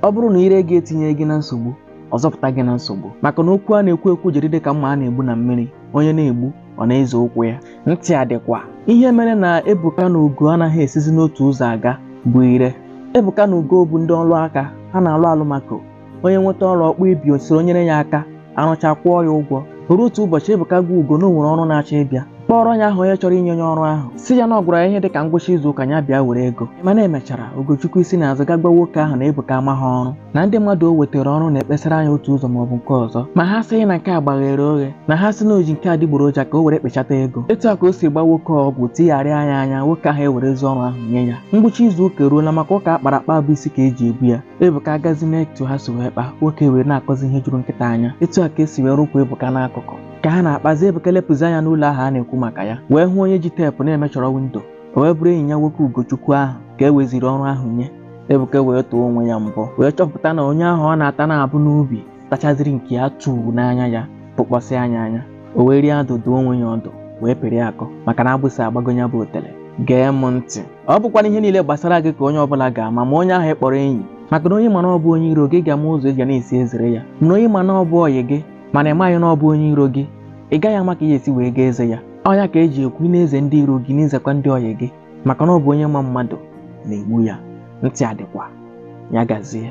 ọ bụrụ na ire gị etinye gị na nsogbu ọ zọpụta gị na nsogbu maka na okwu a na-ekwu ekwu jiri dị ka mma a na-egbu na mmiri onye na-egbu ọ na-eze ụkwụ ya ntị adịkwa ihe mere na Ebuka na Ugo anaghị esizi n'otu ụzọ aga bụ ire Ebuka na Ugo bụ ndị ọrụ aka ha na-alụ Alumaco onye nweta ọrụ ọ kpọọ ibe ya o soro nyere ya aka arụcha kwụọ ya ụgwọ ruo otu ụbọchị Ebuka gwa Ugo na o nwere ọrụ na-achọ ịbịa kpọọrọ ya aha onye chọrọ inye ya ọrụ ahụ sị ya na ọ gwara ya ihe dị ka ngwụcha izu ụka ya bịa were ego mana emechara Ugochukwu esi na azụ gaa gwa nwoke ahụ na Ebuka amaghị ọrụ na ndị mmadụ o wetara ọrụ na-ekpesara ya otu ụzọ maọbụ nke ọzọ ma ha sịghị na nke a gbaghere oghe na ha sị na o ji nke adịgboroja ka o were kpechata ego etu a ka o si gba nwoke ọgwụ tigharịa ya anya nwoke ahụ ewerezi ọrụ ahụ nye ya ngwụcha izu ụka eruola maka ụka akpara akpa bụ isi ka eji ebu ya Ebuka agazi n'etu ha si wee kpaa nwoke ewere na-akọzi ihe juru nkịta anya etu a ka esi wee rụkwa Ebuka n'akụkụ ka ha na-akpazi Ebuka lepụzi anya n'ụlọ ahụ a na-ekwu maka ya wee hụ onye ji teepụ na-emeasure windo o wee bụrụ enyi ya nwoke Ugochukwu ahụ ka e weziri ọrụ ahụ nye Ebuka wee tụọ onwe ya mbọ wee chọpụta na onye ahụ ọ na-ata na-abụ n'obi tachaziri nke ya tụọ n'anya ya tụkpọsị ya anya o were adụ dụọ onwe ya ọdụ wee pịrị akọ maka na agbụsị agbago ya bụ otele gee m ntị ọ bụkwana ihe niile gbasara gị ka onye ọbụla ga-ama ma onye ahụ ị kpọrọ enyi maka na onye ị ma na ọ bụ onye iro gị ị ga-ama ụzọ ị ga na-esi ezere ya mana onye ị ma na ọ bụ ọyị gị mana ị maghị na ọ bụ onye iro gị ị gaghị ama ka ị ya-esi wee gaa eze ya ọ ya ka eji ekwu ị na-eze ndị iro gị na-ezekwa ndị ọyị gị maka na ọ bụ onye ma mmadụ na-egbu ya ntị adịkwa ya gazie